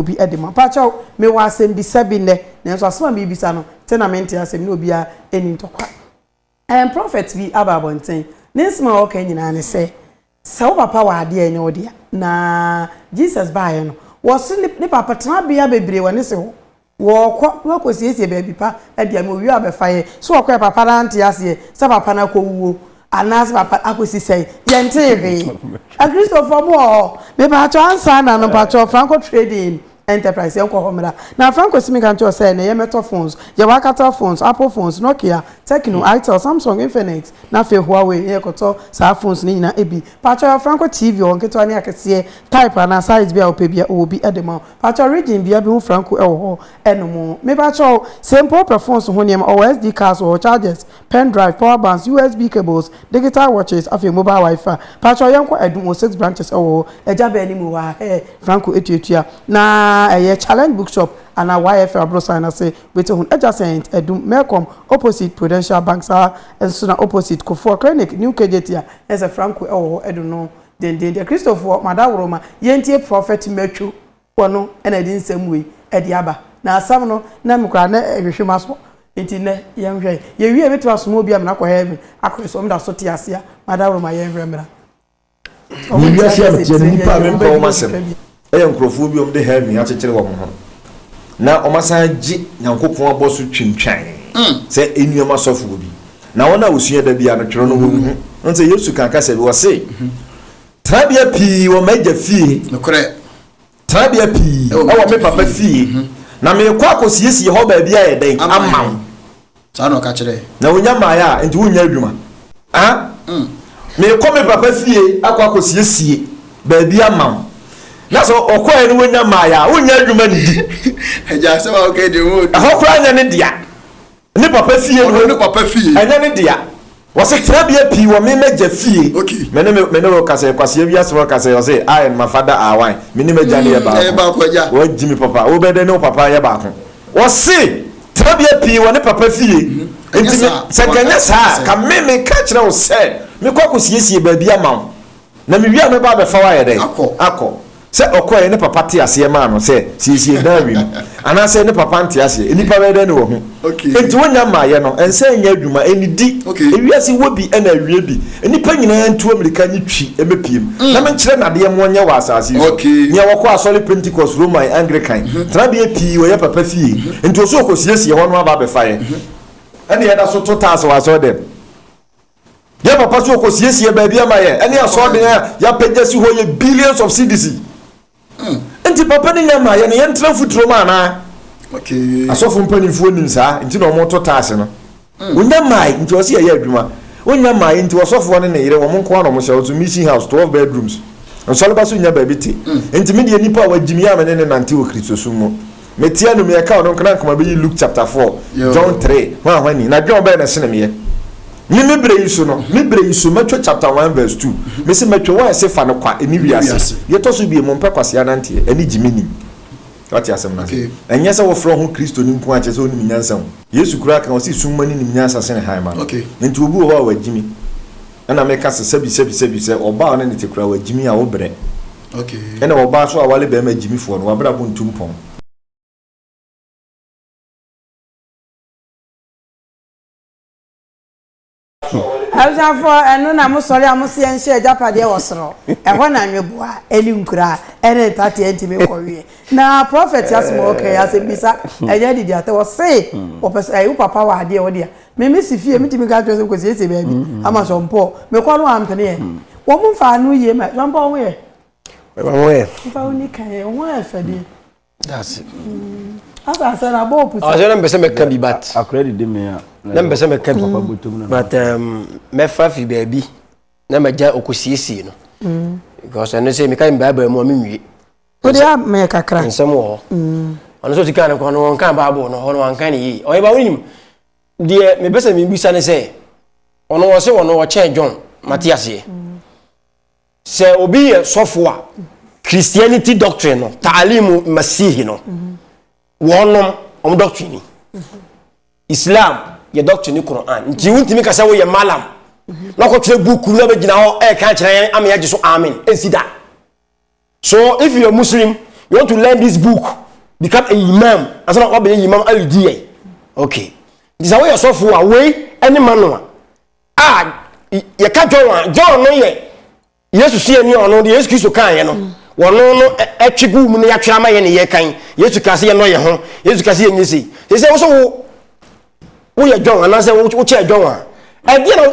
obi de ma. Mpakyɛw, mewɔ asɛmbisa bi nnɛ, nanso asɛm a merebisa no, tse na mente ase, me ne obiara nni ntɔkwa. Ɛɛ, prɔfɛt bi aba abɔnten. Ne nsɛm a ɔka nyinaa ne sɛ, Sɛ wo papa wɔ ade a ɛnyɛ wo dea, na Jesus baeɛ no, wɔse ne, ne papa tenabea bebree wɔ ne se hɔ. Wɔrekɔ na wakɔsiesie baabi pa de ama owie a ɔbɛfa yɛ. So ɔkɔɛ? Papa no ante aseɛ sɛ papa no akɔwuo. Anaasɛ papa akosi sɛn? Yɛntee hwee. Akristofoɔ mo wɔ hɔ? Mepaatɔ ansa na no mpaatɔ Franco Trading Enterprise yɛn kɔ hɔ mmra. Na Franco si me ka nti ɔsɛ ɛnɛ yɛ mɛtɔ phones, yɛwɔ Alcatel phones, Apple phones, Nokia, Tecno, Itel, Samsung, Infinix, na afei Huawei na yɛkɔtɔ saa phones no nyinaa bi. Paatɔ yɛwɔ Franco TV wɔ nketewa ne akɛseɛ type anaa size biara wopɛ biara ɔwɔ bi de ma wo. Paatɔ region biara bɛhu Franco wɔ hɔ ɛnom. Mepaatɔ sɛ mpo wopɛ phones ho nneɛma ɔwɔ SD cards wɔ hɔ, chargers, pen drive, power banks, USB cables, digital watches afei mobile wifi. Pakyɛw yɛnkɔ Adum wɔ six branches ɛwɔ hɔ. Agya bɛn ne mu hɔ a hɛɛ Franco etuatua na ɛyɛ challenge book shop ana YFL abrosan na se wobɛte ho no adjacent Adum Melcom opposite Prudential bank saa nso na opposite Kofoɔ clinic new KJT a na ɛsɛ Franco ɛwɔ hɔ ɛdo no dendendeɛ Kristofoɔ mo adaworoma yɛntie prophet Matthew Yehowa no na ɛde nsɛm wei ɛde aba. Na asɛm no na me koraa na ɛhwehwe m'aso. Nti nnɛ yɛnhwɛ. Yɛwie mɛtumi asoma obi amena akɔ heaven akɔ yɛ so ɔmeda so te aseɛ a madaworo ma yɛnhwɛ mmra. Wɔ wiase a meteɛ no nnipa a mempɛ wɔn asɛm yɛ nkorɔfoɔ bi a wɔde heaven akyekyere wɔn ho na wɔn asan agye Nyankopɔn abɔ so twintwan sɛ nnuam asɔfoɔ bi. Na wɔn a wɔsua da biara no twerɛ no wɔn ho. Wohu sɛ Yesu kaa kasa bi ɔse. Tenabea pii wɔ m'agya fie. Nokorɛ. Tenabea pii wɔ me papa fie. Mhm. Na merekɔ akɔsiesie hɔ baabi ayɛ dɛn ama wo. Ama yɛn. Saa na ɔka kyerɛɛ. Na wonya maeɛ a, enti wonyɛ adwuma? A? Mm. Merekɔ me papa fie akɔ akɔsiesie baabi ama wo. Na sɛ ɔkɔeɛ no wonya maeɛ a, wonyɛ adwuma nnidi? Agya, asɛm a woka yi deɛ, ɔma odwo. Ɛhɔ koraa nyɛ ne dea. Ne papa fie no. Ɔno ne papa fie. Ɛnyɛ ne dea. Ɔse tenabea pii wɔ me m'agya fie. Ok. Me ne me ne wo kasɛ Kwasi awie asɛm no kasɛ ɔse I and my father are one. Me ne m'agya no yɛ baako. Yɛyɛ baako agya. Wagyi me papa. Wo bɛ dɛ ne wo papa yɛ baako. Ɔse tenabea pii wɔ ne papa fie. Nti me sɛ nka ɛnyɛ saa a ka me meka kyerɛ wo sɛ mekɔ akɔ siesie baabi ama wo. Na me wie a mɛba abɛfa wo ayɛ dɛn? Akɔ. Akɔ. Sɛ ɔkɔeɛ ne papa te aseɛ maa no sɛ siesie dan wei mu anaasɛ ne papa nte aseɛ nnipa bɛyɛ dɛn ne wahu? Okay. Enti wonnya mmaeɛ no ɛnsɛ ɛnyɛ adwuma ɛnnidi. Okay. Ewiase wɔ bi ɛna awie bi. Nnipa nyinaa ntu amirika nye twi mmepiem na menkyerɛ nnadeɛ mmoa nyɛ wɔ asaase yi so. Okay. Nea wɔkɔ asɔre Pentecost, Roman, Anglican, tenabea pii wɔyɛ papa fie nti ɔsɛ ɔkɔsiesie hɔ no aba abɛfa yɛ ɛne yɛda so to taase wɔ asɔre dɛm. Yɛn papa nso ɔkɔsiesiee baabi ama yɛn. Ɛne asɔɔden a yɛapagya si hɔ yɛ billions of cedis. Hmm. Nti papa no nya maa yɛn no yɛntena mfuturo mu anaa? Asɔfo mpanimfoɔ nim saa nti na wɔto taase no. Hmm. Onya mmae nti ɔsi ɛyɛ adwuma. Onya mmae nti ɔsɔfoɔ ne ne yere wɔn nko ara na wɔhyɛ nso mission house twelve bedrooms. Nsɔleba so nya baabi te. Hmm. Nti me deɛ nipa a wagyim yɛ a me ne ne nante wɔ Kristosom mu. Meteɛ no meɛ ka ɔno nko na nkɔmɔ bɛyi Luke chapter 4, John 3, hwan hwan ni, na dwɛn ɔbɛyɛ na sene meɛ. Me me berɛ yi so no, me berɛ yi so mɛtwɛ chapter 1 verse 2. Mese mɛtwɛ wɔn ɛse fa no kwa ɛni wiase. Deɛ ɛtɔ so bie mo mpɛ kwasea nanteɛ ɛne gye me nim. Wate asɛm no ase. Ɛnyɛ sɛ wofrɛ wo ho Kristoni nko a kyerɛ sɛ wonim nyansa o. Yesu koraa ka ɔse sum mane nim nyansa sene hann mane. Enti obi wɔ hɔ a wagyimi ɛna meka sɛ sɛbi sɛbi sɛbi sɛ ɔbaa ɔne no te koraa wagyimi a wo brɛ. Nna ɔbaa so a ɔawar barima gyimifoɔ no, w'abrabɔ nntu mpɔn. Abusuafoɔ, ɛno na mosɔre a mose yɛnhyɛ agyapadeɛ wɔ soro. Ɛhɔ na nweboa, ne nkura, ne ntateɛ ntumi nkɔweɛ. Na Prɔfɛt Asmall kae asɛm bi sa, ɛnyɛ ade biata, ɔse, Wopɛ sɛ, ɛɛ, wo papa wɔ adeɛ, wo dea. Me me si fie metumi ka kyerɛ sɛ nkɔsiesie baabi ama sɔmpɔɔ mekɔ no ampeneɛ wɔn mfa ano yie ma sɔmpɔɔ ho yɛ ɛma ho yɛ mfa wo ni kan yɛ ho yɛ fɛ deɛ daase asa asɛ na bɔɔ pusa ɔsɛ na mpɛ sɛ mɛka bi bat akora didi me a na mpɛ sɛ mɛka bi but um, mɛfa fi baabi na magya ɔkɔsiesie no because ɛno sɛ meka me bible mu a menwie Wode a mɛyɛ kakra. Nsɛm wɔ hɔ. Mm. Ɔno sɛ ɔtikaa no kwan no wɔnkan Bible no hɔ no wɔankan no yie. Ɔyɛ ba wonim deɛ mepɛ sɛ mebisa ne sɛ ɔno wɔ se wɔ no wɔkyɛn John mate aseɛ. Sɛ obi yɛ sɔfo a Christianity doctrine no taalimu masihi no wɔnom ɔmo doctrine ni. Islam yɛ doctrine ne Quran nti wontumi ka sɛ woyɛ malam na kɔtwerɛ buku na bɛgyina hɔ ɛka kyerɛ yɛn ama yɛagye so amen ɛnsi da. So if you are Muslim, you want to learn this book, become a imam, ansa na wabɛyɛ imam ayi di yɛ. Okay. Nti sɛ woyɛ sɔfo a wei ɛne ma no a. A yɛka John a John no yɛ Yesu suani a ɔno deɛ Yesu Kristo kaeɛ no. Wɔno no ɛtwe gu mu no yɛatwerɛ ama yɛ ne yɛ kan. Yesu kaa sɛ yɛnɔ yɛ ho. Yesu kaa sɛ yɛnyɛ sei. Sɛ sɛ wo sɛ wo woyɛ John anaasɛ wokyɛɛ John a ɛdeɛ na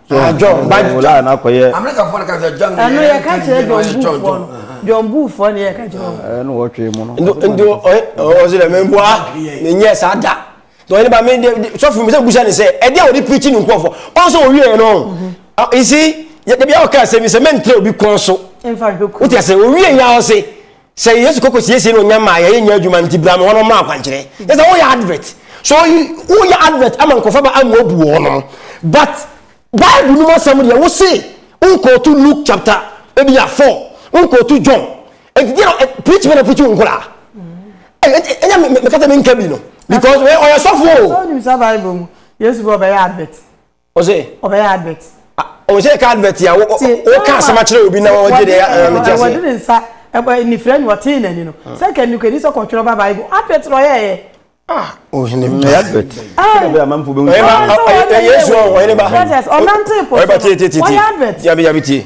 Ah, John, ba John. Wòlá àná kò yẹ. Amẹ́ríkàfoɔ no ka sɛ John yɛ ɛno yɛka nti kyerɛ yɛ no john buufoɔ no John. john buufoɔ ne yɛka kyerɛ wɔn Ẹ ní wọ́n twé mu no. Nti nti ɔyɛ ɔsɛ dɛ mɛ mbua mɛ nyɛ saa da. Na ɔyɛ ne ba mɛ de sɔfo mi sɛ busa ne sɛ ɛdi a wɔde pirikyi ne nkɔfo ɔnso owie yɛ no. Esi yɛ dabi a ɔka asɛm yi sɛ mɛ ntere obi kɔn so. mfa nhwɛ kuro Wote ase owie yɛ ɔse sɛ yesu kɔkɔ siesie na ɔnya maa yɛyɛ nya adwuma nti bra mmoa no mmra akwankyerɛ yɛ sɛ woyɛ advert so woyɛ advert ama nkɔfa ba amu abu wɔ no but bible no mu asɛm deɛ wo se wonkɔɔto luke chapter ebi a four wonkɔɔto john ɛti deɛ eh, preach bɛ na preach wo nkora ɛnyɛ mekasa menka bi no because ɔyɛ sɔfo o yesu bɛ ɔbɛyɛ advert Ɔsɛ. Ɔbɛyɛ advert. Ɔsɛ ɛka advert a wɔka asɛm akyerɛ obi na wɔgye de ɛyɛ mete ase. Wɔde ne nsa ɛbɔ nifira ni wɔtee n'ani no. Sɛ nka nnuka ni sɛ kɔtwerɛ ba Bible advert na ɔyɛ yɛ. Ah, ohene ba. Ɛyɛ advert. Ɛyɛ bɛ amanfo bɛ hu. Ɛyɛ ba. Ɛyɛ Yesu ɔhene ba. Ɔnante pɔ. Ɔyɛ ba tie tie tie. Ɔyɛ advert. Yabi yabi tie.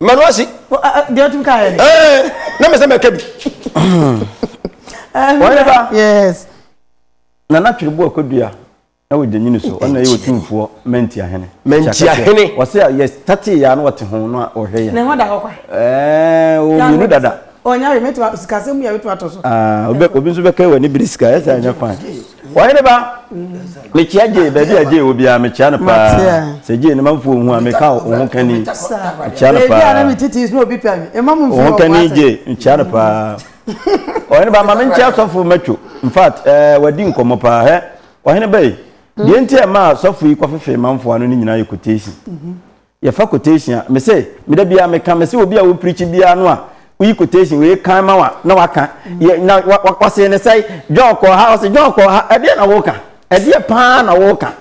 manu ase. deɛ ɔtum ka yɛ ni. ɛɛ na mɛ sɛ mɛ kɛ bi. wɔn yɛ ba. yes. nana twere bo ɛkɔ dua ɛwɔ gyanyini so ɔna yɛ otumfoɔ mɛnti ahene. mɛnti ahene. wɔsi a yɛ tati yɛ ano ɔte ho na ɔhwɛ yɛ. ne ho da hɔ kwa. ɛɛ o mienu dada. Ɔnya hwee, mɛtumi a, sikasɛm mu yɛ mɛtumi atɔ so. Ah, obi, obi nso bɛka wɔ ne bere sika, ɛsɛ anya fan. Wɔhene ba, mekyia Jay, baabi a Jay wɔ biara, mekyia no paa. Matea. Sɛ Jay ne manfo ohu a, meka wo ho kani, mekyia no Baabi a na paa. me tete sɛ obi pɛ me, ɛma mu Wo mfi ho hɔ kani ase. Jay, mekyia no paa. Ɔhene ba, ma menkyia sɔfo Matthew. In fact, eh, wadi nkɔmmɔ paa. Hɛ, ɔhene ba yi, deɛ nti a ɛmaa sɔfo yi kɔfefee manfo ano no nyinaa yɛ quotation. yɛfa quotation a mese me da biara meka mese obi a wo preach biara no a woyi quotation wei kan ma wa na waka yɛ na wa wa wɔse ne sɛ John kɔ ha wɔse John kɔ ha ɛdeɛ na woka ɛdeɛ paa na woka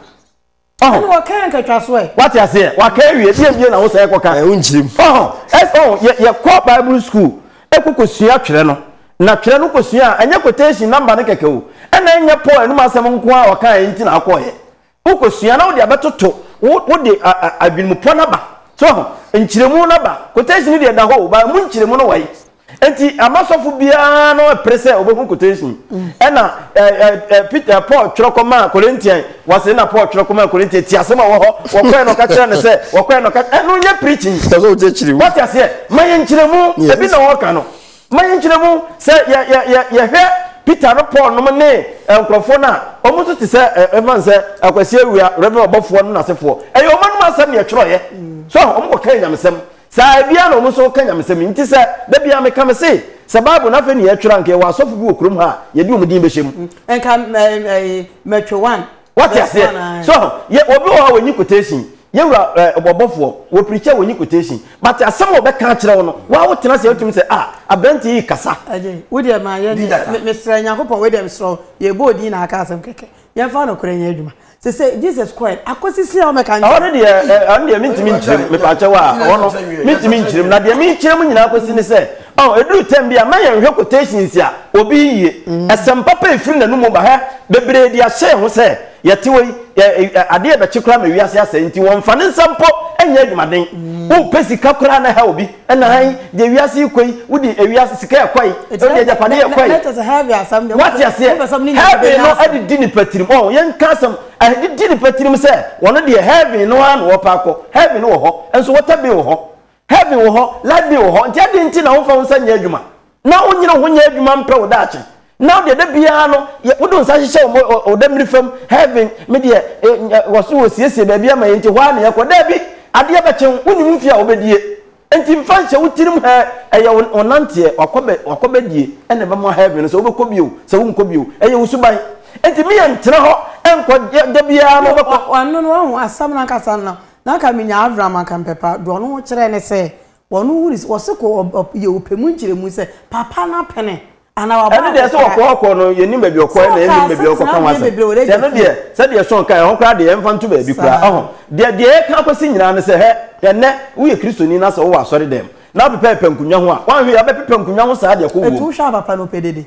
ɔho ɛna wɔka nkatwa so ɛ wate aseɛ waka awie deɛ bie na wo sɛ ɛkɔka ɛho nkyerɛ mu ɔho ɛho yɛ yɛkɔ bible school ɛkɔkɔ sua twerɛ no na twerɛ no kɔ sua a ɛnyɛ quotation number no kɛkɛ o ɛna ɛnyɛ paul ɛnum asɛm nko a wɔka ɛnti na akɔɛ Wokɔsua na wode abɛtoto wo wode adwenmupɔ no aba. So waho? Nkyerɛmu no aba. Quotation no deɛ ɛda hɔ o, but ɛmu nkyerɛmu no wae. Enti ama sɔfo biara no ɛpere sɛ ɔbɛhu quotation yi. Ɛna ɛ, ɛ, ɛ, Peter, Paul twerɛ kɔmaa Corinthian, wɔse na Paul twerɛ kɔmaa Corinthian, tie asɛm a ɛwɔ hɔ, wɔkɔɛ na ɔka kyerɛ no sɛ, wɔkɔɛ na ɔka, ɛno nyɛ preaching. Ɛsɛ sɛ wokyerɛkyerɛ mu. Woate aseɛ? Ma yɛn nkyerɛmu, Yes. ebi na wɔka no. Ma yɛnkyerɛ mu sɛ yɛ, yɛ, yɛ, yɛhwɛ Peter no Paul nom ne nkorɔfoɔ no a, wɔn nso te sɛ ɛ, yɛmfa no sɛ Akwasi Awia, Rev. Ɔbɔfoɔ no n'asefoɔ. Ɛyɛ wɔn anom asɛm na yɛtwerɛeɛ. So ahu? Wɔn kɔkaa Nyamesɛm. Saa ara biara na wɔn nso reka Nyamesɛm yi. Nti sɛ, da biara meka, mese, sɛ Bible no afei na yɛretwerɛ a, anka yɛwɔ asɔfo bi wɔ kurom ha a yɛde wɔn din bɛhyɛ mu. Nka mɛ, mɛ, mɛtwe one. Wate aseɛ? So yɛ obi wɔ hɔ a wɔnyi quotation. Yɛwura ɛɛ eh, ɔbɔbɔfoɔ wɔ preacher wɔnyi quotation. But asɛm a wɔbɛka akyerɛ wo no, wɔn a wotena sɛ wotumi sɛ a ah, aberanteɛ yi kasa. Ɛgye wo deɛ maa yɛ ne mesrɛ Nyankopɔn wei deɛ mesrɛ yɛbɔ odin na aka asɛm kɛkɛ. Yɛmfa no korɛ nyɛ adwuma. Sɛ sɛ Jesus kɔɛ akɔsisi a wɔmɛka nkyɛn. Ɔno deɛ ɛno eh, deɛ mentumi nkyerɛm mepaakyɛ wɔ a ɔno mentumi nkyerɛm na deɛ menkyerɛm nyinaa kɔsi ne sɛ Oh, eduru tɛm bi a, ma yɛn nhwɛ quotations a obi yiye. Ɛsɛm papa a efiri n'anom ba ha, bebree de ahyɛ yɛn ho sɛ, Yɛte hɔ yi, ɛ, ɛ, ɛ, ade rebɛkye koraa ma wiase asɛe, nti wɔmfa ne nsa mpo nyɛ adwumaden. Wopɛ sika koraa na ha obi, ɛna han, deɛ wiase rekɔ yi, wode ewiase sika rekɔ yi, Enti wode nɛ- agyapadeɛ nɛ- nɛ- rekɔ yi. nɛ kyerɛ sɛ heavy asɛm deɛ, Wate wopɛ sɛ- aseɛ? wopɛ sɛ ɔmo ne nyinaa Heaven bɛnya no asɛm. adidi nipa tirim. Oh, yɛnka asɛm, adidi nipa tirim sɛ wɔn deɛ heaven no ara na wɔpɛ akɔ. Heaven wɔ hɔ, nso water bin wɔ hɔ. Heaven wɔ hɔ, life bi wɔ hɔ, nti adɛn nti na womfa wo nsa nyɛ adwuma, na wonyere wo ho nyɛ adwuma mpɛ wo daakye? Now deɛ da biara no, wode wo nsa hyehyɛ wo ɔdammiri fam, heaven, me deɛ, wɔ so wɔsiesie baabi ama yɛn nti hɔ ara na yɛkɔ. Daabi, adeɛ bɛkye wo, wonim mfeɛ a wobɛdie, nti mfa nhyɛ wo tirim hɛ, ɛyɛ wo nanteɛ, wakɔbɛdie na ɛbɛma heaven no, sɛ wobɛkɔ bi o, sɛ wonkɔ bi o, ɛyɛ wo suban, nti me yɛ ntena hɔ nkɔ, da biara no wobɛkɔ. Wano no, wahu asɛm no ankasa no, Na anka minya Avram anka mepɛ pa do ɔno ho kyerɛ ne sɛ ɔno hu ne sɛ ɔse kɔ ɔp yɛ ɔpɛ mu nkyerɛmu sɛ papa no apene anaa waba Ɛno deɛ sɛ akɔkora ɔkɔɔ ɔkɔɔ no yɛnim baabi ɔkɔɛ na Sɔɔ kaa yɛnim baabi a sɛ ɔkɔka ho tenabea asɛm bebree wɔ nti ɛno deɛ Egypt. sɛdeɛ Sean kaeɛ ɛhɔ koraa deɛ yɛmfa nto baabi koraa Saa. ɔho deɛ deɛ yɛka akɔsi nyinaa ne sɛ hɛ ɛnnɛ woyɛ Kristoni na sɛ wowɔ asɔredɛm na wopepɛpɛ nkonnwa ho a woanhwɛ yie wobɛpepɛ nkonnwa ho saa deɛ kɔ Ɛnti wom. wohwɛ a papa no ɔpɛ dede?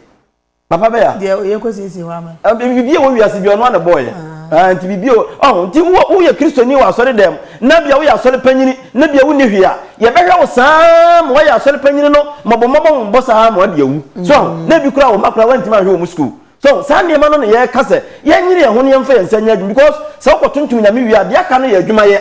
Papa bɛyɛ a. Deɛ ɔyɛ kɔsiesie hɔ ama. Biribi a ɛwɔ wiase biara ɔno ara na ɛbɔɔ yɛn. Ahaa, nti biribi a ɛwɔ, ɔho, nti wo, woyɛ Kristoni wɔ asɔre dan mu, na bia woyɛ asɔre panyini, na bia wonni hwee a, yɛbɛhwɛ wo saa ara ma woayɛ asɔre panyini no mmɔbɔmmɔbɔ mmɔbɔ saa ara ma woade awu. So aho? Na ebi koraa, wo mma koraa woantumi anhwɛ wɔn sukuu. So aho? Saa nneɛma no na yɛreka sɛ, yɛnyere yɛn ho na yɛmfa yɛn nsa nyɛ adwuma, because sɛ wokɔtontom Nyame wie a, deɛ aka no yɛ adwumayɛ.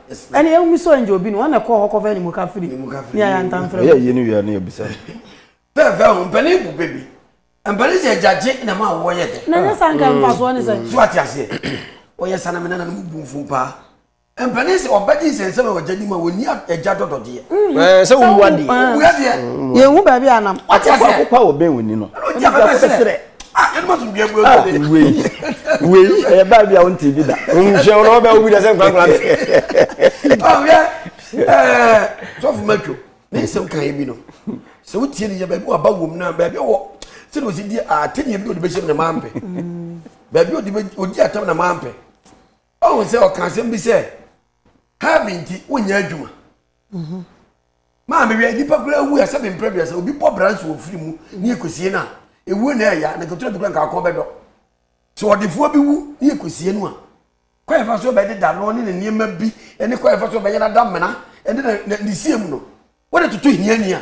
ɛne ɛwumi sɛ ɔyɛ obi no wɔn na ɛkɔɔ hɔ kɔfɛ ne mu kafiri ne ayɛ ntamfrɛ ɛyɛ yie no wia ne yɛbisa pɛɛfɛ ho mpanin bu bebi mpanin sɛ agyagye na ma awoɔ yɛ dɛ na nyɛ sa nka mfa soɔ ne sɛ so ate aseɛ ɔyɛ sa na me nana no mu bu mfom paa mpanin sɛ ɔbɛgye nsɛnsɛm a ɔgya nim a wɔni agya dɔdɔdeɛ mm-hmm. sɛ womu adeɛ yɛhu baabi anam ɔte aseɛ akokɔ a wɔbɛn wɔni no ɛno nti afɛfɛ serɛ ah yɛn ma tun bia bua ah, bi de wei wei ɛyɛ baa bi a wɔn ti bi da wɔn hyɛ wɔn ɔbɛ obi da sɛ nkwankwa bi ɔyɛ ɛɛ sɔfo mɛtwo ne nsɛm kan yɛ bi no sɛ o tie ne yɛ baabi wa ba wɔm na baabi wɔ sɛde o si di ate ne yɛ bi o de bɛ hyɛm na maa mpɛ baabi o de bɛ o di atam na maa mpɛ ɔhun sɛ ɔkan sɛm bi sɛ heaven ti o nya adwuma. Mhm. maa mi wia nipa kura ewu ɛsɛ mi mpere duasa obi bɔ bransi wɔ firi mu ne ekosie na ewu na ɛya na kotoro bi kura nka akɔn bɛ dɔ so ɔdefoɔ bi wu ne ekosie no a kwan fa so bɛ de da no ne ne nneɛma bi ɛne kwan fa so bɛ yɛ na da mena ɛne na ne sie mu no wɔde toto hiani a.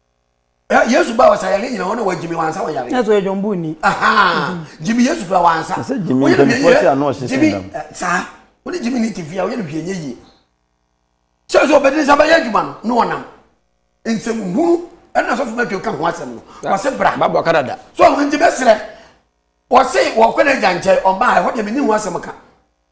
Eh, yesu ba wɔsa yare nyina hɔ na wagyimi wansa wɔn yare ɛsɛ ɛdwom bu ni gyimi yesu fira wansa ɛsɛ gyimi mpanyinfoɔ ti ano ɔsese ndam eh, saa wɔn gyimi ni ti fia wɔyɛ no hwɛ nye yie sɛ sɛ ɔbɛdi nsa bɛyɛ adwuma no ne ɔnam nsɛm hunu ɛna sɔfo mɛtɔ ka ho asɛm no wɔse bra babɔ kadada so nti bɛserɛ wɔse wɔkɔ n'agya nkyɛn ɔbaa ɛhɔ deɛ menni ho asɛm ka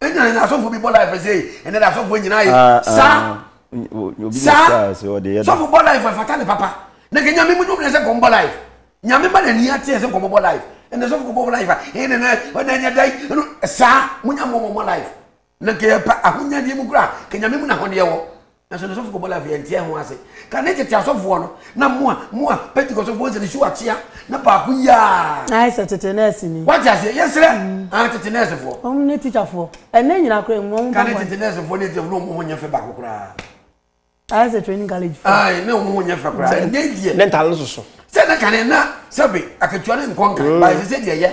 ɛnyina ne asɔfo bi bɔ life sɛ ɛnɛ de asɔfo nyina ye ah, ah, saa ah, saa sɔfo bɔ life ɛfata ne papa na kɛ nyame mu nwomene sɛ kɔm bɔ life nyame ma n'ani ateɛ sɛ nkɔmɔ bɔ life ɛnɛ sɔfo kɔ bɔ life a ɛnɛ nɛ ɔnɛ nyɛ dai ɛno saa mo nyɛ mmɔ mɔ life na kɛ yɛ pa ahonyadeɛ mu kura kɛ nyame mu na ahɔdeɛ wɔ Nanso ne sɔfo kɔbɔ life yɛnte ɛho ase. Kane tete asɔfoɔ no na moa moa pentikɔsɔfoɔ nsɛ ne su akyea na baako yiaa. Ayɛ sɛ tete nɛɛse ni. Wate aseɛ yɛsrɛ ah tete nɛɛse foɔ. Wɔn ne teacher foɔ ɛnɛ nyina kora emu wɔn bɔ bɔne. Kane tete nɛɛse foɔ ne teacher foɔ ne wɔn ho nyɛ fɛ baako koraa. Ayɛ sɛ training college foɔ. Ae ne wɔn ho nyɛ fɛ koraa ɛnɛ deɛ. Ne ntare no soso. Sɛ na kane na sɛbe akatua ne nkɔ nkan but sese deɛ yɛ.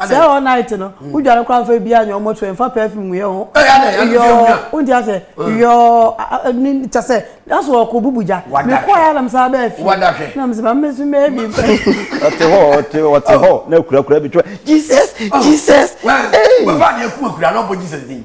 sɛ all night no hmm. wodwa no koraa mfa biaa nyɛ ɔmɔto ɛmfa perfume nguyɛ ho yɔɔ wonti asɛ yɔɔ ne kyɛ sɛ naso ɔkɔ bubu gya mekɔɛ nam saa bɛɛ fi na mesɛ ma mmɛsu mɛɛ bi ɔte hɔ ɔte ɔte hɔ na akurakura bi twɛ jesus jesus ee wɔfa ne akumakura na ɔbɔ jesus din